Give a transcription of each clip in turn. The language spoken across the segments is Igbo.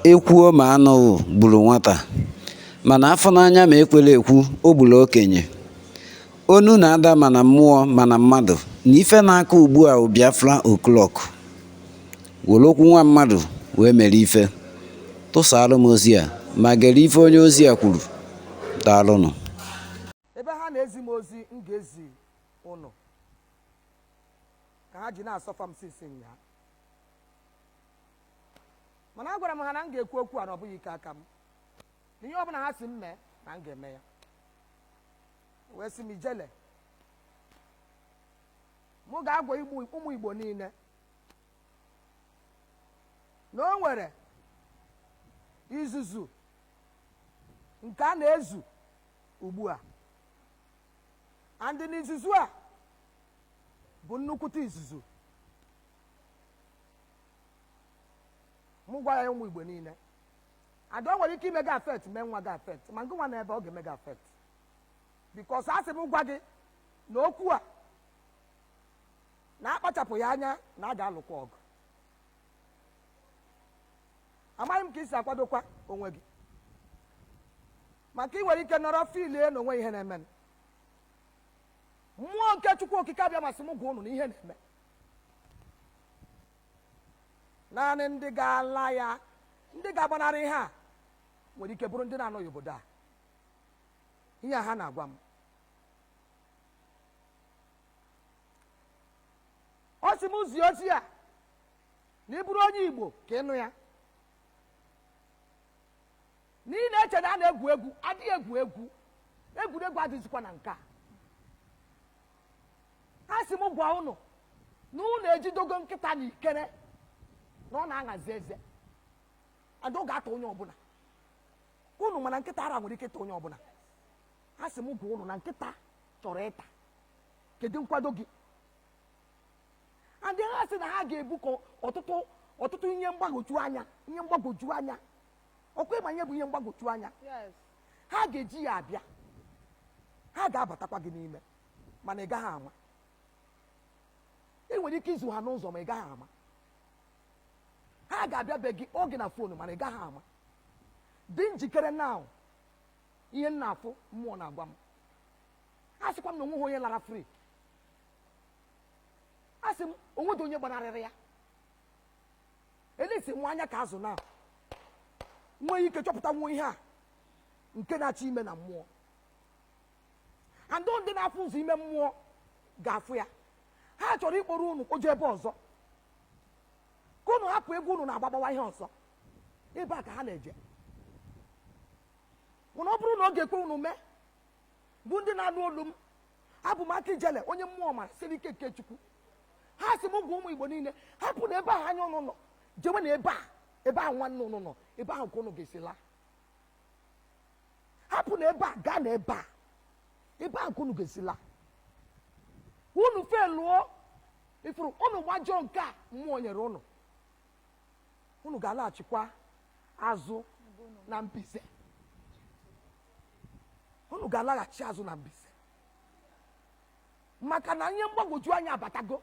E kwuo ma a nụghị gburu nwata mana afụ n'anya ma ekwela ekwu o gburu okenye onu na-ada ma na mmụọ ma na mmadụ na ife na-akụ ugbu a bụ Biafra o'clock were okwu nwa mmadụ wee mere ife tụsara m ozi a ma gere ife onye ozi a kwuru daalụnụ ebe ha na-ezi m ozi m ga-ezi ụnụ ka ha ji na-asọfa m since nya mana agwara m ha na m ga-ekwu okwu a na ọ bụghị ike aka m na ihe ọbụla ha sị m mee na m ga-eme ya wee sị m ijele mụ ga-agwa ụmụ igbo niile na o nwere izuzu nke a na-ezu ugbu a and na izuzu a bụ nnukwute izuzu mụ gwa ya ụmụ igbo niile and o nwere ike ime gị affect mee nwa gị affect ma ngị nwa na ebe ọ ga-eme gị affect because a sị m gwa gị na okwu a na akpachapụghị anya na a ga-alụkwa ọgụ amaghị m ka i si akwadokwa onwe gị maka ị nwere ike nọrọ feelie na o nweghị ihe na-eme mmụọ nke chukwu okike abịama sị m gwa ụnụ na ihe na-eme naanị ndị ga-ala ya ndị ga-agbanarị ihe a nwere ike bụrụ ndị na-anọghị obodo a ihe a ha na-agwa m ọ sị m zie ozi a na ị bụrụ onye igbo ka ị nụ ya na ị na-eche na a na-egwu egwu adịghị egwu egwu egwuregwu adịzikwa na nke a ha sị m gwa ụnụ na ụnụ ejidogo nkịta na ikere na ọ na-aṅazi eze and ọ ga-ata onye ọbụla ụnụ ma na nkịta ara nwere ike ịta onye ọbụla ha sị m gwa ụnụ na nkịta chọrọ ịta kedu nkwado gị and ha sị na ha ga-ebukọ ọtụtụ ihe mgbagwoju anya ọ kwa ị ma ihe bụ ihe mgbagwoju anya ha ga-eji ya abịa ha ga-abatakwa gị n'ime mana ị gaghị ama ị nwere ike izu ha n'ụzọ ma ị gaghị ama ha ga-abịa be gị oge na phone mana ị gaghị ama dị njikere na ihe m na-afụ mmụọ na-agwa m ha sịkwa m na onweghị onye lara free a sị m onwedị onye gbanarịrị ya elesi nwa anya ka azụ na nwee ike chọpụta nwa ihe a nke na-achọ ime na mmụọ and ndị na-afụ ụzọ ime mmụọ ga-afụ ya ha chọrọ ịkpọrọ unu kpọje ebe ọzọ ka unu hapụ egwu unu na-agba gbawa ihe ọzọ ebe a ka ha na-eje mana ọ bụrụ na ọ ga-ekwe unu mee bụ ndị na-anụ olu m abụ m aka ijele onye mmụọ mara siri ike nke chukwu ha sị m gwa ụmụ igbo niile hapụnụ ebe ahụ anya ụnụ nọ jewenụ ebe a ebe ahụ nwanne ụnụ nọ ebe ahụ ka ụnụ ga-esi laa hapụnụ ebe a gaanụ ebe a ebe ahụ ka ụnụ ga-esi laa unu felụọ ifuru ụnụ gbajọọ nke a mmụọ nyere ụnụ unu ga-alaghachikwa azụ na mbize unu ga-alaghachi azụ na mbize maka na ihe mgbagwoju anya abatago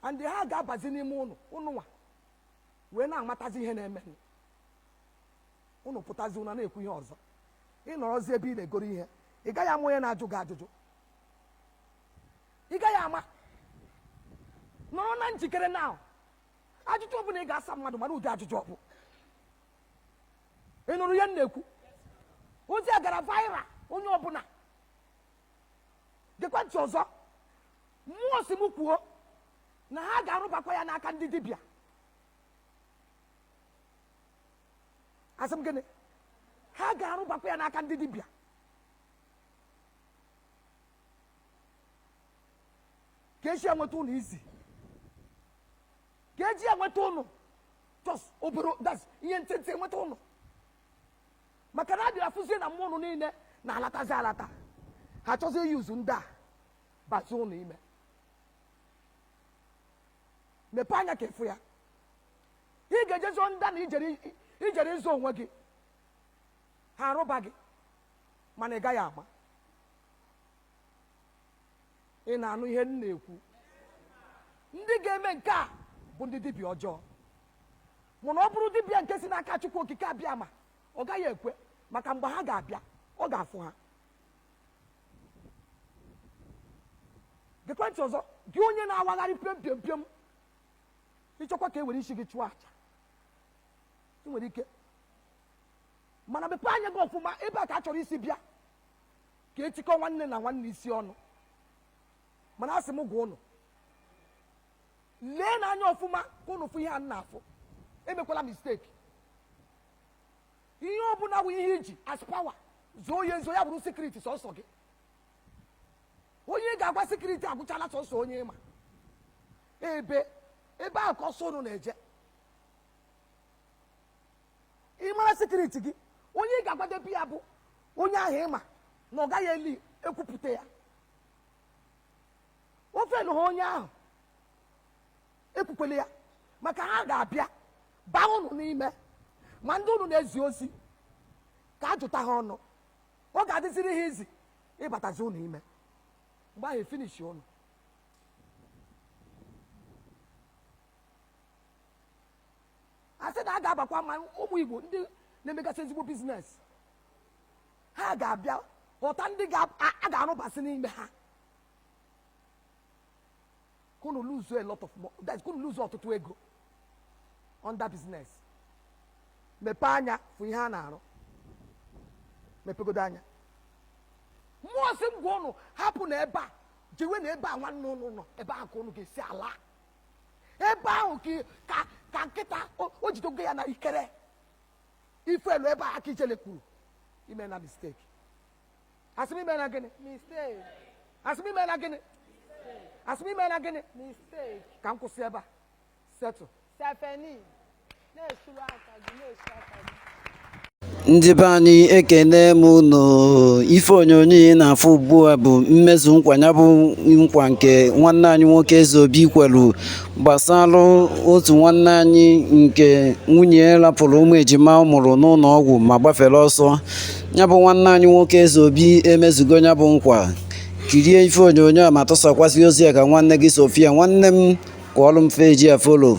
and ha ga-abazi n'ime ụnụ ụnụnwa wee na-amatazi ihe na-emenụ ụnụ pụtazi ụnụ na-ekwu ihe ọzọ ị nọrọzi ebe ị na-egoro ihe ị gaghị ama onye na-ajụ gị ajụjụ ị gaghị ama nọrọ na njikere na ajụjụ ọbụla ị ga-asa mmadụ mara ụdị ajụjụ ọ bụ ị nụrụ ihe m na-ekwu ozi a gara viral onye ọbụla gekwa ntị ọzọ mmụọ sị m kwuo na ha ga-arụbakwa ya n'aka ndị dibịa asị m gịnị ha ga-arụbakwa ya n'aka ndị dibịa ka eji enweta ụnụ easy ka eji enweta ụnụ just obere that's ihe ntịntị enweta ụnụ maka na adịrị afụzie na mmụọ ụnụ niile na-alatazi alata ha chọzi i-use ndị a bazi ụnụ ime mepee anya ka ị fụ ya ị ga-ejezi ndị a na ị jere ịzọ onwe gị ha arụba gị mana ị gaghị ama ị na-anụ ihe m na-ekwu ndị ga-eme nke a bụ ndị dibịa ọjọọ mana ọ bụrụ dibịa nke si n'aka chukwu okike abịa ma ọ gaghị ekwe maka mgbe ha ga-abịa ọ ga-afụ ha gekwa ntị ọzọ gị onye na-awagharị pịom pịom pịom ị chọkwa ka e were isi gị chụọ aja ị nwere ike mana mepee anya gị ọfụma ebe a ka a chọrọ isi bịa ka etikọ nwanne na nwanne isi ọnụ mana asị m gwa ụnụ lee n'anya ọfụma ka ụnụ fụ ihe a na-afụ emekwala mistake ihe ọbụla bụ ihe iji as power zoo ya ezo ya bụrụ secret sọsọ gị onye ị ga-agwa secret agwụchala sọsọ onye ịma ebe ebe ahụ ka ọsọ ụnụ na-eje ị mara secret gị onye ị ga-agwadebe ya bụ onye ahụ ịma na ọ gaghị eli ekwupụta ya ọ fenaha onye ahụ ekwukwele ya maka ha ga-abịa baa ụnụ n'ime ma ndị ụnụ na-ezi ozi ka a jụta ha ọnụ ọ ga-adịziri ha easy ịbatazi ụnụ ime mgbe ahụ efinishi ụnụ a sị na a ga-abakwa ma ụmụ igbo ndị na-emegasị ezigbo business ha ga-abịa họta ndị ga- a a ga-arụbasị n'ime ha ka ụnụ lose a lot of mo- that is, ka ụnụ lose ọtụtụ ego on the business mepee anya fụ ihe a na-arụ mepegodo anya mmụọ sị m gwa ụnụ hapụ na ebe a jewe na ebe nwanne ụnụ nọ ebe ahụ ka ụnụ ga-esi ala ebe ahụ ka ị- ka ka kịta o o jidogo ya na ikere ife elu ebe a ka ijele kwuru emena mistake asị m emena gịnị Mistake. asị m emena gịnị asị m emena gịnị Mistake. ka m kwụsị ebe a setụ Stephanie. ndị be anyị ekene m unu ife onyonyo ị na-afụ ugbu a bụ mmezu nkwa ya bụ nkwa nke nwanne anyị nwoke eze obi kwelu gbasara otu nwanne anyị nke nwunye rapụrụ ụmụ ejima ọ mụrụ n'ụlọ ọgwụ ma gbafere ọsọ ya bụ nwanne anyị nwoke eze obi emezugo ya bụ nkwa kirie ife onyonyo a ma tụsakwasị ozi a ka nwanne gị so fụ ya nwanne m kụọrọ m page a follow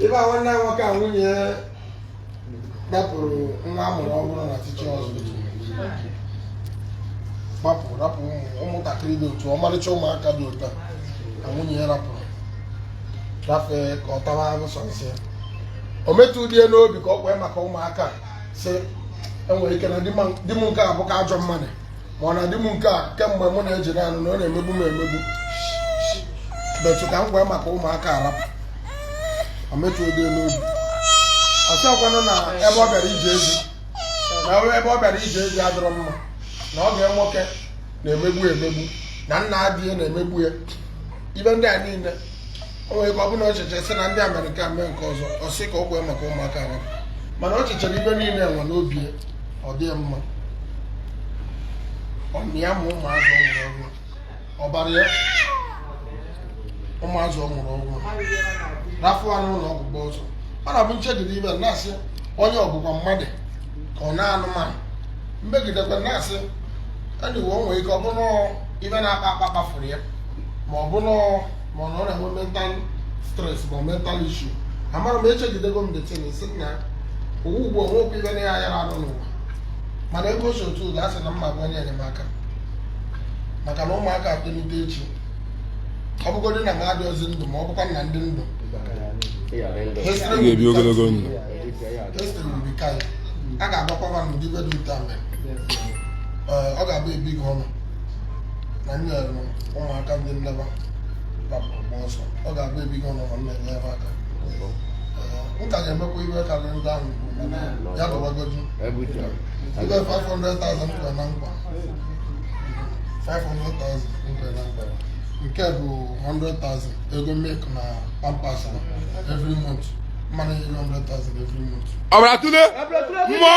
ebe nwanne anyị nwoke a nwunye ya rapụrụ nwa amụrụ ọhụrụ na tichi ọzọ gbapụ rapụ ụmụ- ụmụntakịrị dị otu ọmarịcha ụmụaka dị otu a na nwunye ya rapụrụ gafee ka ọ tawa ahụ sọ nsị ya o metụdịghị ya n'obi ka ọ kwee maka ụmụaka a, sị enwere ike na di ma- di m nke a bụka ajọ mmadụ ma ọ na di m nke a kemgbe mụ na ya ji na-anụ na ọ na-emegbu m emegbu but ka m kwee maka ụmụaka a rapụ o metụdịghị ya n'obi ọ sịkwanụ na ebe ọ bịara ije ezi na ebe ọ bịara ije ezi adịrọ mma na ọgọ ya nwoke na-emegbu ya emegbu na nna di ya na-emegbu ya ife ndị a niile o nwere ike ọ bụrụ na o chechee sị na di ya mere nke a mee nke ọzọ ọ sị ka o kwee maka ụmụaka ya mana o chechara ive niile enwe n'obi ya, ọ dị ya mma ọ mịa ma ụmụazị ọ mụrụ ọhụrụ ọbara ya ụmụazị ọ mụrụ ọhụrụ rafụ ha n'ụlọ ọgwụ gbaa ọsọ ọ na-abụ m chegide ive na-asị onye ọ bụkwa mmadụ ka ọ na anụmanụ m chegidekwa na-asị anyway o nwere ike ọ bụrụ na ọ- ive na-akpa akpa kpafuru ya ma ọ bụrụ ma ọ na-enwe mental stress ma mental issue amara m echegidego m the thing sị na owu ugbu a nwekwa ive na ya yara anụ n'ụwa mana ego si otu ụzọ a sị na mma bụ onye enyemaka maka na ụmụaka atolite echi ọ bụgodị na m adịghịzi ndụ ma ọ bụkwa na m dị ndụ ga-ebi ogologo ndụ a ga-agwakwa nwa n'ụdị ive dị otu a mere ọ ga-abụ ebi gị ọnụ na nyere ụmụaka ndị nne va gbapụrụ ọsọ ọ ga-abụ ebi gị ọnụ m na-enye va aka m ka ga-emekwa ive karịrị ndị ahụ ya dọbagoju ibe 500,000 nkwe na nkwa 500,000 nkwe na nkwa nke bụ 100,000 ego milk na pampers every month mmanụ 100,000 every month ọ bụla tụle mmụọ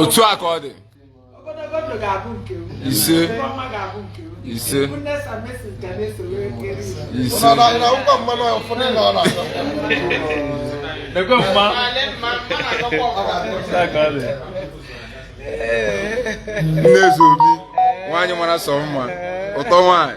otu a ka ọ dị ise ise ise Nekwe mma. nne zobi nwaanyị mara sọ mma ụtọ nwaanyị